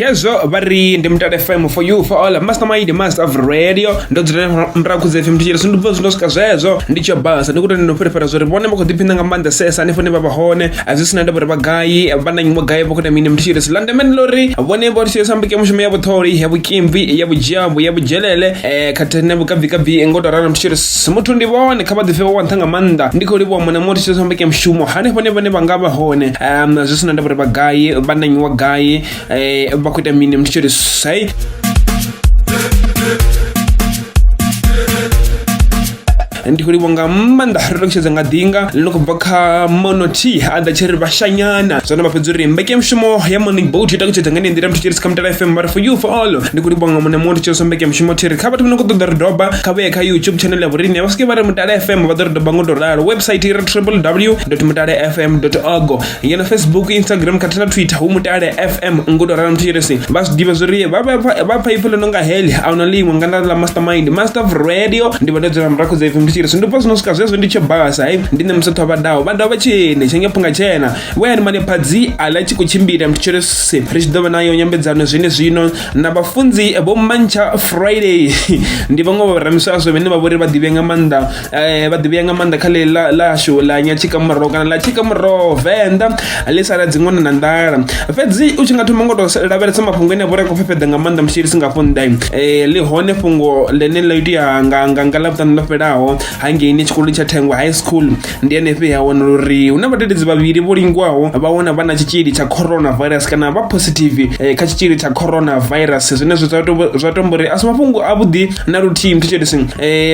khezwo vha ri ndi mutale fm for you for all mastermind master of radio ndo dzula murahu khudza fm tshitshili so ndi bva zwino swika zwezwo ndi tsho basa ndi kutani ndo fhirifhira zwo ri vhone vha khou ḓiphina nga maanḓa sesa hanefho ne vha vha hone a zwi sina ndavha uri vha gai vha na nyimo gai vha khou na mini mutshitshili so landemene ḽo ri vhone vho tshitshili sambuke mushumo ya vhuṱholi ya vhukimvi ya vhudzhambo ya vhudzhelele um khathihi na vhukabvikabvi ngo to ralo mutshitshili Si muthu ndi vhone kha vha ḓifhe vha wanṱha nga maanḓa ndi khou livhuwa mona muthu tshithu mbeke mushumo hanefho hone vhane vha nga vha hone um zwi si na ndavha uri vha gai vha na nyiwa gai um vha khou ita mini muthu tshi ri sai ndi khou livhuwa nga maanḓa ri ṱalutshedza nga ḓinga ḽi no khou bva kha monoti a ḓa tshi ri vhashanyana zwone vha fhedza uri mbeke mushumo ya morning boat i ṱalutshedza nga nḓila muthu tshi ri si kha mutala fm but for you for all ndi khou livhuwa nga mona muthu tshi ri so mbeke mushumo thi ri kha vhathu vha no khou ṱoḓa ri doba kha vhuye kha youtube channel ya vhorine vha swike vha ri mutale fm vha ḓo ri doba ngo to ralo website i re www mutale fm org ngeno facebook instagram khathihi na twitter hu mutale fm ngo to ralo mthirisi vha zwi ḓivha zwori vha pfa ipfhi ḽo no nga heli a huna ḽiṅwe nga nda ḽa mastermind master of radio ndi vha ndo dzula murahu dza fm mthirisi ndi pfa zwino swika zwezwo ndi tshe basa hai ndi nṋe musathu vha daho vha daho vha tshene tshenge phunga tshena vhoyani mane phadzi a ḽa tshi khou tshimbila mthirisi ri tshi ḓo vha nayo nyambedzano zwine zwino na vhafunzi vho mantsha friday ndi vhaṅwe vha vharamiswaswo vhane vha vhori vha ḓivhea nga maanḓa eh, vha ḓivhea nga maanḓa kha ḽeḽi ḽashu ḽa nyatshikamuraho kana ḽa tshikamuraho venḓa ḽi sala dziṅwana na nḓala fhedzi u tshi nga thoma ngo to lavhelesa mafhungo ene a vhori a khou fhefheḓa nga maanḓa musi ri si nga fhonḓa eh, ḽi hone fhungo ḽene ḽa itea nga nga nga ḽavhuṱanu ḽo fhelaho hangeini tshikoloni tsha thengwa high school ndi henefhi ha wanala uri hu na vhadededzi vhavhili vho lingwaho vha wana vha na tshitzhili tsha coronavirus kana vha positive eh, kha tshitzhili tsha coronavirus zwine zwa to- zwa tomba uri a si mafhungo avhuḓi na luthihi mthetshelesi um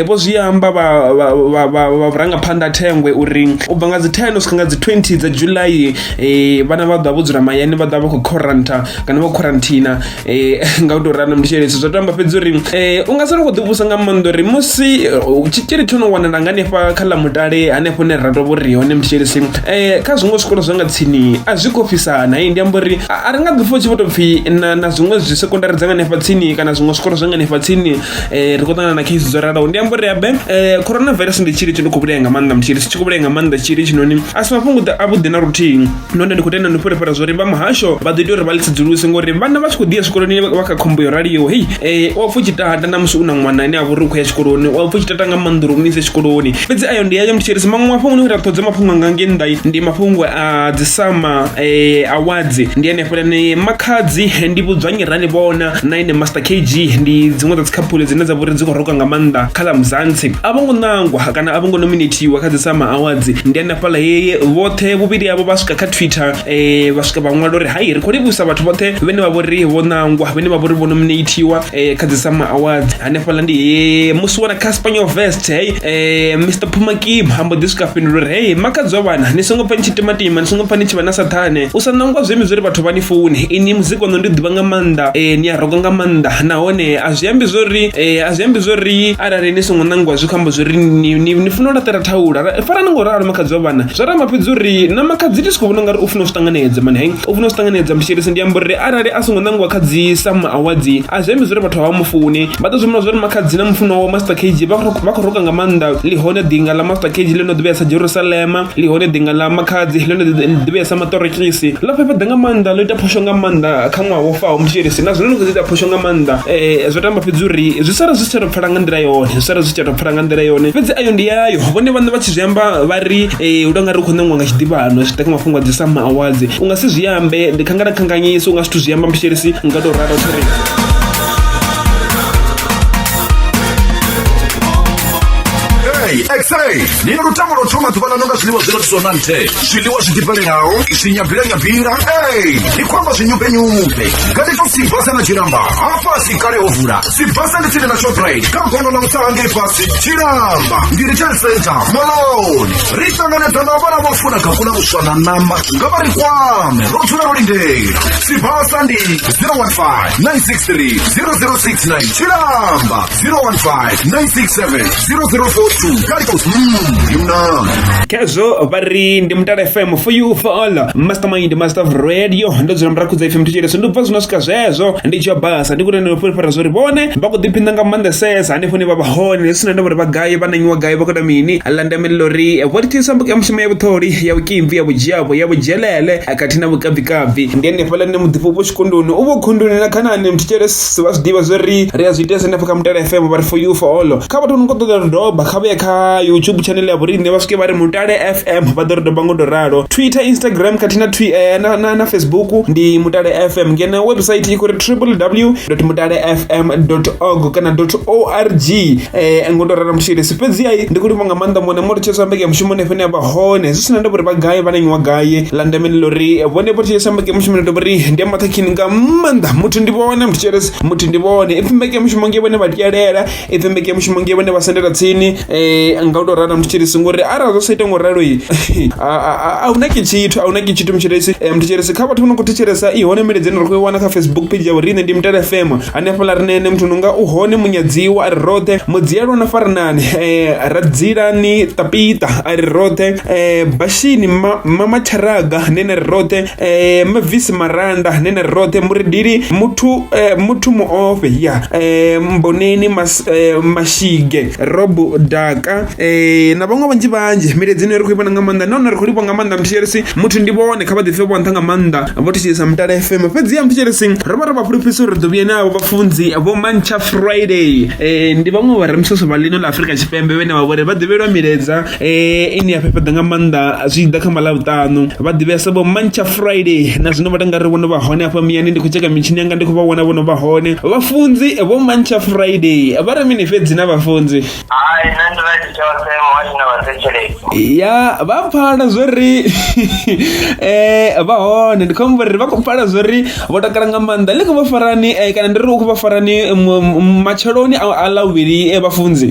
vho zwi amba vha- vha- vha- vha- vha vhurangaphanḓa a thengwe uri u bva nga dzi 10 u swika nga dzi 20 dza july um vhana vha ḓa vho dzula mahayani vha ḓa vha khou quaranta kana vha quarantina Eh, nga u tou ralo ndi tshele zwa tamba fhedzi uri um u nga sala khou ḓivhusa nga maanḓa uri musi eh, tshitzhili tsho no wanala nga hanefha kha ḽa mutale hanefho ne ra tovho ri hone mtshelisi um eh, kha zwiṅwe zwikolo zwa nga tsini a zwi khou fhisana i ndi amba uri a ri nga ḓi fo tshi vho tou pfhi na na zwiṅwe zwi sekondari dza nga hanefha tsini kana zwiṅwe zwikolo zwa nga hanefha tsini um ri khou ṱangana na khesi dzo ralaho ndi amba uri abe um coronavirus ndi tshili tshi no khou vhulaya nga maanḓa mtshelisi tshi khou vhulaya nga maanḓa tshili tshinoni a si mafhungo a vhuḓi na luthihi nahone ndi khou tenda ndi fhulefhela zwo ri vha muhasho vha ḓo ita uri vha ḽi tsedzuluse ngori vhana vha tshi khou ḓiya zwikoloni vha kha khombo yo raliho hei eh, u a pfa u tshi tata na musi u na ṅwana ane a vha uri u khou ya tshikoloni u a pfa u tshi tata nga maanḓa uri u mu ise tshikoloni fhedzi ayo ndi ayo mthitshirisi maṅwe mafhungo ni ra ṱhodze mafhungo anga nge nnḓa ndi mafhungo a dzisama eh, awadzi ndi hanefho lane makhadzi eh, ndi vhudzwanyi rali vhona na ine master kg ndi dziṅwe dza dzikhaphule dzine dza vha uri dzi khou roka nga maanḓa kha ḽa muzantsi a vho ngo ṋangwa kana a vho ngo nominatiwa kha dzisama awadzi ndi hanefho hafhaḽa heye vhoṱhe vhuvhili avho vha swika kha twitter um vha swika vha ṅwala uri hai ri khou livhusa vhathu vhoṱhe vhene vha vhori vho ṋangwa vhene vha vhori vho nominatiwa um eh, kha dzi sama awards hanefhaḽa ndi he musi wana kha spaniel vest hei um eh, mr pumakim ambo ḓi swika fhindula uri hei makadzwa vhana ni songo pfa ni tshi timatima ni songo pfa ni tshi vha na sathane u sa ṋangwa zwemi zwo ri vhathu vha ni funi ini muzika no ndi ḓivha nga maanḓa um ni a roga nga maanḓa nahone a zwi ambi zwo ri A zwi ambi zwo ri arali ni songo ṋangiwa zwi khou amba zwo ri ni, ni, ni funa u laṱela thaula Ra- farani ngo ralo makhadzi wa vhana zwa ramba fhedzi uri na makhadzi ndi si khou vhona ungari u funa u zwi ṱanganedza mani hai u funa u zwi ṱanganedza mshelesi ndi amba uri arali a songo ṋangiwa kha dzi sam awadzi a zwi ambi zwo ri vhathu havha mufuni vha ḓo zwi vhona zwo ri makhadzi na mufuno wawe master kg vha khou- vha khou roka nga maanḓa ḽihone ḓinga ḽa master kg ḽo no ḓivhea sa jerusalema ḽihone ḓinga ḽa makhadzi ḽo no ḓi- ḓivhea sa maṱorokisi ḽo fhefheḓa nga maanḓa ḽo ita phosho nga maanḓa kha kha ṅwaha wo faho mutshielisi na zwino ni khou ita phosho nga maanḓa um zwo tamba fhedzi uri zwi sala zwi si tsha tou pfala nga nḓila yone zwi sala zwi si tsha tou pfala nga nḓila yone fhedzi ayo ndi yayo vhone vhaṋe vha tshi zwi amba vha ri um u tou nga ri u khou ṋeṅwa nga tshiḓivhano zwi ḓa kha mafhungo a dzi sama awadzi u nga si zwi ambe ndi khangala khanganyisa u nga zwithu zwi amba mutshielisi nga tou ralo thiri Hey, X-ray. Nina lutamo lo thoma ḓuvha ḽa no nga zwiḽiwa zwi no tiswa na nthe. zwiḽiwa zwi ḓifhelelaho zwinyabvilanyabvila ei ndi khou amba zwinyumbenyumbe nga ndi to sibasa na tshilamba hafhasi kale ho vula sibasa ndi tsini na shoprite kha gono ḽa mutsaha ngei fhasi tshilamba ndi retail center moloni ri ṱanganedza na vhana vho funa kakula vhuswa na ṋama nga vha ri kwame ro dzula ro lindela sibasa ndi 015 963 0069 tshilamba zero one five nine six seven zero zero four two kali kwa yuna khezwo vha ri ndi mutala fm for you for all mastermind master of radio ndo dzula murakhudza fm thetshelesa ndi bva zwino swika zwezwo ndi tshi basa ndi kuti ndi fulufhela zwo ri vhone vha khou ḓiphina nga maanḓesesa hanefho ni vha vha hone ndi sina ndavha uri vha gai vha nanyiwa gai vha khou ita mini la ndamelelo ri vho ri thisa mbuka ya mushumo ya vhuṱholi ya vhukimvi ya vhudzhiavho ya vhudzhelele khathihi na vhukavhikavhi ndi hanefhaḽa ni muḓifho vho tshikunduni u vho khunduni na khanani mthetshelesa vha zwi ḓivha zwo ri ri a zwi itesa hanefho kha mutale fm vha ri for you for all kha vhathu no kho ṱoḓa ri doba kha vhuye kha youtube channel ya vhoriṋe vha swike vha ri mutale fm vha ḓo ri doba ngo to ralo twitter instagram khathihi na twi eh, na, na, na facebook ndi mutale fm ngeno website i khou ri www mutale fm org kana org eh, ngo to ralo mushirisi fhedzi ai ndi khou livha nga maanḓa mone mo ri tshesa mbeke ya mushumo nefene ya vha hone zwi sina ndavha uri vha gai vha na nyiwa gai la ndeme ndi ḽo ri vhone vho tshesa mbeke mushumo ni dobori ndi maṱhakhini nga maanḓa muthu ndi vhone muthu tshelesi muthu ndi vhone ipfi mbeke mushumo nge vhone vha tyelela ipfi mbeke mushumo nge vhone vha sendela tsini um nga u tou rala muthu tshelesi ngori arali zwo sa ita ngo ralo i a huna ke tshithu a huna ke tshithu mutshiresi muthu tshelesi kha vhathu vho no khou thetshelesa i hone miledzeni ri khou i wana kha facebook page ya vhoriṋe ndi mutele fm hanefhaḽa ri nene muthu nonga u hone munyadziwa a ri roṱhe mudzielo na farinani um ra dzilani tapita a ri roṱhe eh, bashini ma, mama theraga nene ri roṱhe eh, mavisi maranda nene ri roṱhe muredili muthu eh, muthu muofhe ya eh, mboneni mas, eh, mashige robo daka eh, na vhaṅwe vhanzhi vhanzhi miledzi ine ri khou ivhona nga maanḓa nahone ri khou livha nga maanḓa mthetshelesi muthu ndi vhone kha vha ḓipfe vho nṱha nga maanḓa vho thetshelesa mutala fm fhedzi ya mthetshelesi ro vha ri vha fhulufhisa uri ri ḓo vhuye navho vhafunzi vho mantsha friday eh, ndi vhaṅwe vha re msoso vha ḽino ḽa afurika tshipembe vhene vha vhori vha ḓivhelwa miledza eh ine ya fhefheḓa nga maanḓa zwi ḓa kha malavhuṱanu vha ḓivhesa vho mancha friday na zwino vha tanga ri vhono vha hone hafha miyani ndi khou tsheka mitshini yanga ndi khou vha vhona vhono vha hone vhafunzi vho mancha friday vha ri mini fhedzi na vhafunzi hai nṋe ndi right tshoṱhe muhasho na vhathetsheleki ya vha pfala zwo ri eh vha hone ndi khou amba uri vha khou pfala zwo ri vho takala nga maanḓa ḽi khou vha farani eh, kana ndi ri u khou vha farani matsheloni a ḽa vhuvhili eh, vhafunzi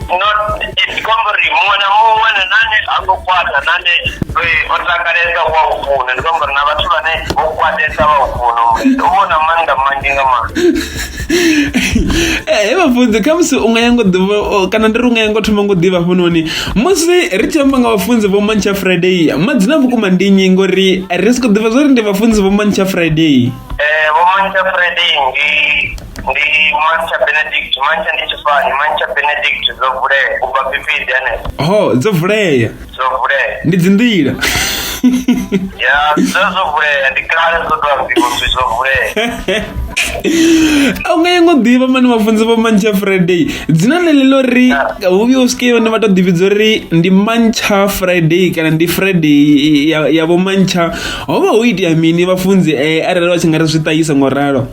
not it's company muṅwe na muṅwe na nane ha ngo kwata nane o takalesa wa u funa ndi company na vhathu vhane vho kwatesa vha u funa murendo u vhona maanḓa manzhi nga maanḓa he vhafunzi kha musi u nga ya ngo ḓivha o- kana ndi ri u nga ya ngo thoma ngo ḓivha hafhanoni musi ri tshi amba nga vhafunzi vho mantsha friday madzina vhukuma ndi nnyi ngori ri si khou ḓivha zwo ri ndi vhafunzi vho mantsha friday Eh, vho mantsha friday ndi ndi mantsha benedict mantsha ndi tshifani mantsha benedict dzo vulea u bva phiphiḓi hanefho ho dzo vulea dzo vulea ndi dzi nḓila ya dzo dzo vulea ndi kale dzo tou ambiwa uri dzo vulea a u nga yengo ḓivha mani vhafunzi vho mantsha friday dzina ḽe ḽi ḽo ri hu vhuya u swike vhane vha tou ḓivhidza uri ndi mantsha friday kana ndi friday ya- ya vho mantsha ho vha ho itea mini vhafunzi eh, arali vha tshi nga ri zwi ṱahisa ngo ralo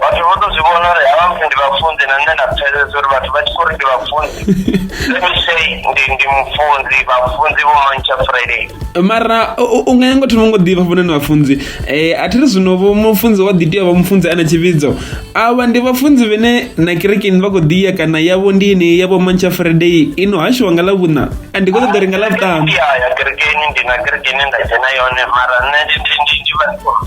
vhathu vho to zwi vhona uri havha muthu ndi vhafunzi na nṋe nda pfesesa uri vhathu vha tshi khou ri ndi vhafunzi let me say ndi ndi mufunzi vhafunzi vho mantsha friday mara u nga nyanga thoma ngo ḓivha fhona ni vhafunzi um a thi ri zwino vho mufunzi wa ḓitea vha mufunzi a na tshivhidzo avha ndi vhafunzi vhene na kerekeni vha khou ḓiya kana yavho ndi ine yavho mantsha friday ino hashiwa nga ḽa vhuṋa a ndi khou ṱoḓa ri nga ḽa vhuṱanu ya kerekeni ndi na kerekeni nda dzhena yone mara nṋe ndi ndi ndi ndi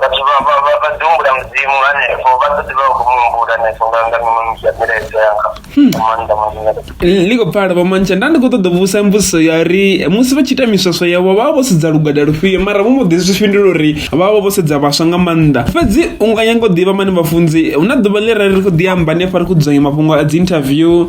vhathu vha vha vha vha ḓi humbula mudzimu hanefho vha ḓo ḓi vha vha khou mu humbula hanefho nga nga miṅwe misi ya milaedza yanga nga maanḓa maanḓa L- ḽi khou pfala vho mantsha nda ndi khou ṱoḓa u vhusa mbudziso ya uri musi vha tshi ita miswaswo yavho vha vha vho sedza lugada lufhio mara vho mbo ḓi zwi fhindula uri vha vha vho sedza vhaswa nga maanḓa fhedzi u nga nyanga u ḓivha mani vhafunzi hu na ḓuvha ḽi ra ri khou ḓi amba hanefha ri khou dzudzanya mafhungo a dzi interview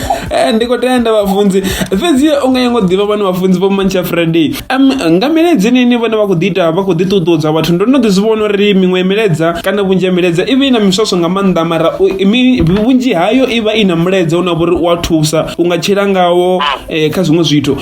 Eh, ndi khou tenda vhafunzi fhedzi u nga yengo ḓivha vhane vhafunzi vho mantsha friday um, nga miledza inini vhone vha khou ḓi ita vha khou ḓi ṱuṱuwedza vhathu ndo no ḓi zwi vhona uri miṅwe ya miledza kana vhunzhi ya miledza i vha i na miswaswo nga maanḓa mara u- mi- vhunzhi hayo i vha i na mulaedza une wa vha uri u a thusa u nga tshila ngawo eh, kha zwiṅwe zwithu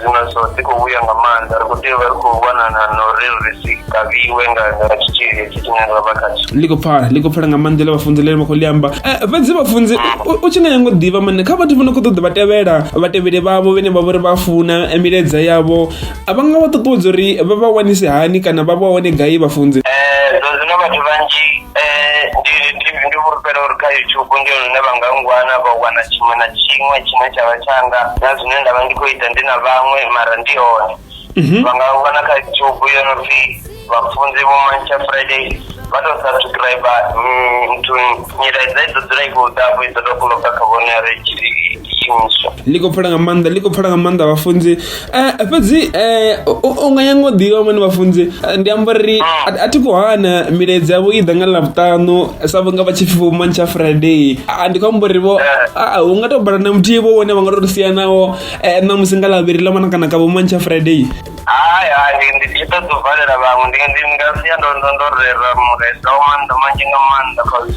Zwino so dzi khou vhuya nga maanḓa, ri khou tea u vha ri khou lwanana na uri ri si kavhiwe nga nga tshitzhili hetshi tshine ra vha khatsho. ḽi khou pfala ḽi khou pfala nga maanḓa ḽa vhafunzi ḽine vha khou ḽi amba Eh, fhedzi vhafunzi u- u tshi nga nyanga u ḓivha mane kha vhathu vho no khou ṱoḓa vha tevhela vhatevheli vhavho vhene vha vha uri vha funa eh, milaedza yavho a vha nga vha ṱuṱuwedza uri vha vha wanise hani kana vha vha wane gai vhafunzi Eh, zwa zwino vhathu vhanzhi Eh, ndi ndi ndi fhulufhela uri kha youtube ndi hone hune vha nga ngwana vha wana tshiṅwe na tshiṅwe tshine tsha vha tshanga na zwine nda vha ndi khou ita ndi na vhaṅwe mara ndi hone Mhm. vha nga wana kha youtube yo no pfi vhafunzi vho mantsha friday vha tou subscribe mm, nthuni nyilaedza i ḓo dzula i khou ḓafho i ḓo tou kuloka kha vhone ya ri tshi imiswa ndi khou pfela nga maanḓa ndi khou pfela nga maanḓa vhafunzi Eh, fhedzi eh, u u nga nyanga u ḓivha vhone vhafunzi eh, ndi amba uri a a thi khou hana milaedza yavho i ḓa nga ḽavhuṱanu sa vhunga vha tshi pfi vhumani tsha friday Ah, ndi khou amba uri vho ah, hu nga tou bala na muthihi vho vhone vha nga tou sia nawo eh, ṋamusi nga ḽavhiri ḽa mana kana ka vhumani tsha friday hai hai ndi ndi tshi ṱoḓa u valela vhaṅwe ndi ndi nga sia ndo ndo ndo rera muresa wa maanḓa manzhi nga maanḓa cause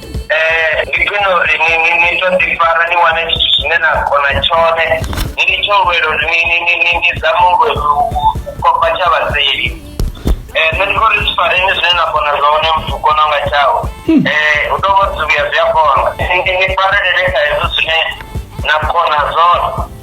Eh, ndi khwine uri ni ni ni to ḓi fara ni wane tshithu tshine na kona tshone ni ni tsho lwela uri ni ni ni ni ni zame u lwe- u- u- u kopa tsha vhaseli Eh, nṋe ndi khou ri zwi fareni zwine na kona zwone muthu u kona nga tshawe Eh, u tou vha zwi vhuya zwi a kona Ni- ni ni farelele kha hezwo zwine na kona zwone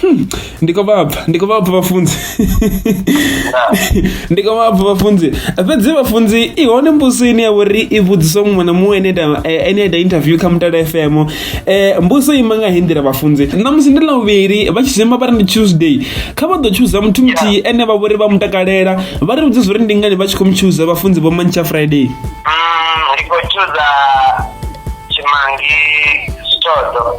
Hmm, ndiko vabva ndiko vabva vafunzi ndiko vabva vafunzi fhedzi vafunzi i hone mbuso ine ya vhori i vhudziswa muṅwe na muṅwe ene ita eh, ene ita interview kha mutala fm um eh, mbuso ima nga hindira vhafunzi ṋamusi ndi lavhuvhili vha tshi zwima vha ri ndi tuesday kha vha ḓo tshuza muthu muthihi ene vha vhori vha mu takalela vha ri vhudze zwo ri ndi ngani vha tshi khou mu tshuza vhafunzi vho mantsha friday mm, ndi khou tshuza tshimangi sitodo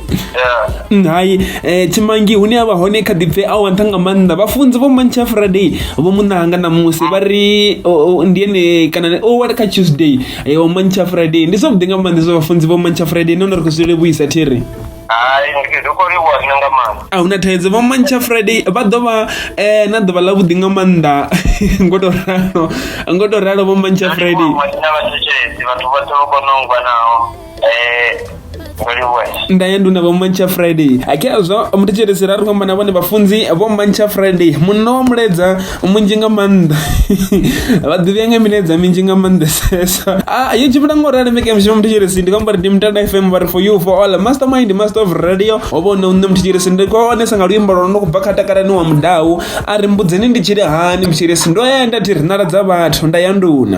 Mm, hai eh, tshimangi hune a vha hone kha ḓipfe a wanta nga maanḓa vhafunzi vho mantsha friday vho munanga na musi vha ri ndi ene kana o wala kha tuesday eh, o mantsha friday ndi zwavhuḓi nga maanḓa zwa vhafunzi vho mantsha friday nahone ri khou zwi levhuisa thiri a huna thaidzo vho mantsha friday vha ḓo vha eh, na ḓuvha ḽa vhuḓi nga maanḓa ngo to ralo ngo to ralo vho mantsha friday ndaye nduna vhomantsha friday akhezwo muthetshedzisira ri khou amba na vhone vhafunzi vhomantsha friday munna wa muledza munzhi nga maanḓa vha ḓivhea nga miledza minzhi nga maanḓesesa a yo tshimbila ngo rali meke mushumo muthetshedzisi ndi khou amba ri ndi mutanda fm vha ri for you for all mastermind master of radio ho vha hune nṋe muthetshedzisi ndi khou onesa nga luimbo lwa no kubva kha takalani wa mudau a ri mbudzeni ndi tshili hani muthetshedzisi ndo ya nda thi ri nala dza vhathu nda ya nduna